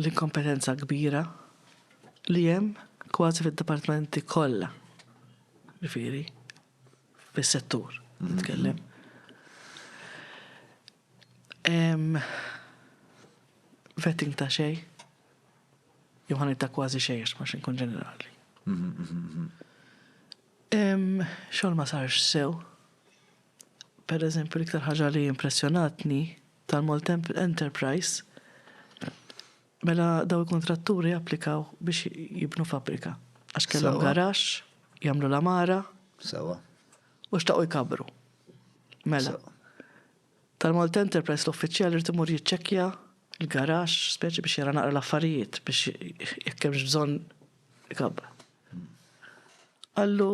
l-inkompetenza kbira li hemm kważi fid-dipartmenti kollha. Ġifieri, fis-settur nitkellem. Hemm vetting ta' xejn, jew ħanejt ta' kważi xejn għax ma xinkun ġenerali. Hemm xogħol ma sarx sew. Pereżempju, l-iktar ħaġa li impressjonatni tal-Maltemp Enterprise mela daw il-kuntratturi applikaw biex jibnu fabbrika. Għax kellhom garax, jagħmlu l-amara. Sewa. U xtaqgħu jkabru. Mela. Tal-Malt Enterprise l-uffiċjal irid imur jiċċekkja l-garax, speċi biex jara naqra l-affarijiet biex jekk hemmx bżonn ikabbar. Qallu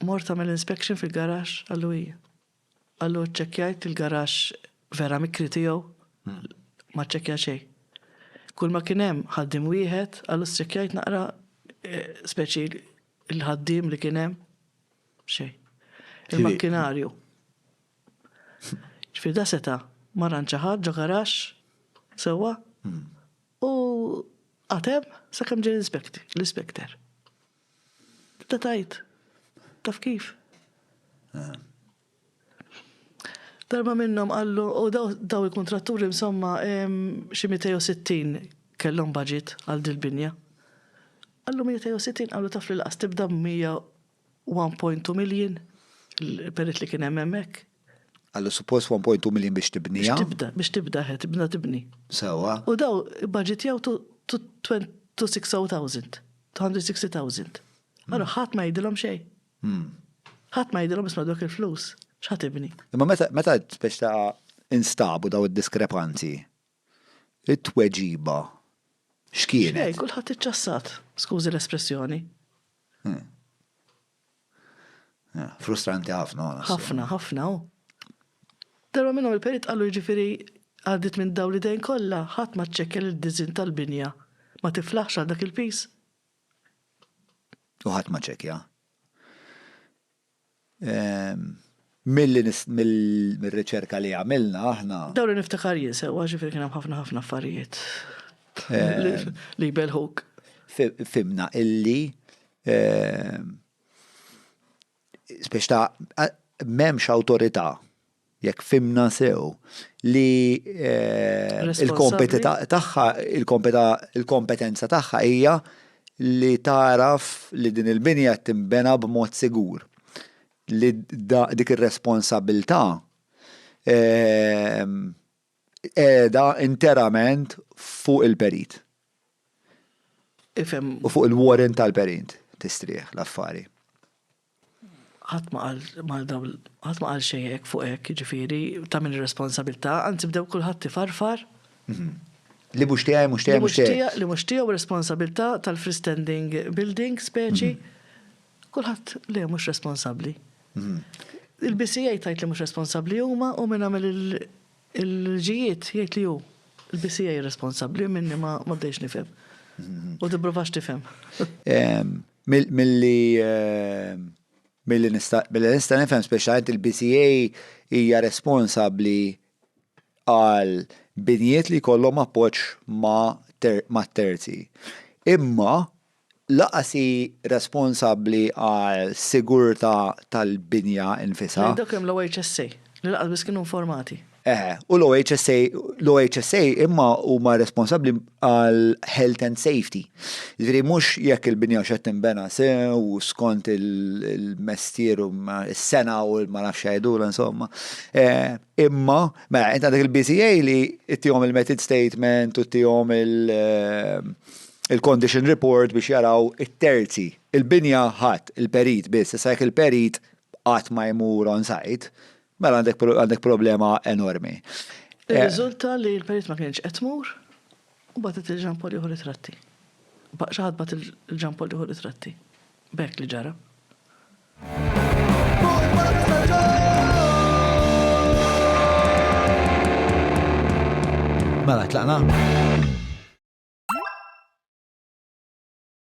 Mort għamilt inspection fil-garaxx, qallu hi. Qallu ċċekkjajt il-garaxx vera mikri tiegħu, ma ċċekkja xejn. Kull ma kien hemm ħaddiem wieħed, qallu ċċekkjajt naqra eh, speċi l-ħaddiem li kien hemm xejn. Il-makkinarju. Ġifieri da seta' ma ranċa ħadd ġo garaxx sewwa hmm. u għatem sakemm ġej l-inspektor. Tibda tgħid, taf kif? Darba minnhom qallu, u daw il-kuntratturi insomma xi 260 kellhom budget għal dil-binja. Qallu 260 qallu taf li lanqas tibda b'100 u 1.2 million, il-peress li kien hemm hemmhekk. Qallu suppost 1.2 million biex tibniha. Biex tibda, biex tibda he, tibna tibni. Sewwa. U daw ibbaġitjaw to 260,000, 260,000. Allura ħadd ma jgħidilhom xejn. Ħadd ma jgħidilhom isma' dawk il-flus x'ħa tibni. Imma meta meta biex ta' instabu daw id-diskrepanzi, it-tweġiba x'kienet? Xejn, kulħadd iċċassat, skużi l-espressjoni. Eh, frustranti ħafna. Ħafna, ħafna. Darba minnhom il-perit qalu ġifiri għaddit minn daw li dejn kollha ħadd ma ċċekkel id-diżin tal-binja ma tiflaħx għal dak il-pis. U ħadd ma ċekja. Ehm, Mir-riċerka li għamilna aħna. Dawn li niftakar jien sewwa, ġifieri kien hemm ħafna ħafna affarijiet li jbelħuk. Fhimna illi biex ta' m'hemmx awtorità jekk fhimna sew li l-kompetenza tagħha hija li tagħraf li din il-binja qed tinbena b'mod sigur. li dik ir-responsabbiltà qiegħda interament fuq il-perit. Ifhem. U fuq il-warrant tal-perit tistrieħ l-affari. Ħadd ma qal mal dawl, ħadd ma qal xejn hekk fuq hekk, jiġifieri ta' min ir-responsabbiltà, anzi bdew kulħadd ifarfar. Mhm. Li mhux tiegħi, mhux tiegħi, mhux tiegħi. Li mhux tiegħu responsabbiltà tal-freestanding building speċi. Mhm. Kulħadd le mhux responsabbli. Il-BCA tgħid li mhux responsabbli huma u min għamel il-liġijiet jgħid li hu. Il-BCA responsabbli minni ma bdejx nifhem. U tipprovax tifhem. Milli Billi nista' nifhem speċjalment il-BCA hija responsabbli għal binjiet li jkollhom appoġġ ma' terzi. Imma Lanqas hi responsabbli għas-sigurtà tal-binja nnfisha. Lejn dak hemm l-OHSA, li lanqas biss kienu informati. Eħe, u l-OHSA, l-OHSA imma huma responsabbli għall-health and safety. Jiġifieri mhux jekk il-binja hux qed tinbena sew u skont il-mestier u s-sena u ma nafx x'jgħidulha insomma. Imma, mela int għandek il-BCA li ttihom il-method statement u ttihom il- il-condition report biex jaraw it-terzi. Il-binja ħadd, il-perit biss. Issa jekk il-perit qatt ma jmur on site, mela għandek għandek problema enormi. Irriżulta li l-perit ma kienx qed tmur u bagħtet lil Jean Paul jieħu ritratti. Xi ħadd bagħat lil Jean Paul jieħu ritratti. B'hekk li ġara. Mela, tlaqna?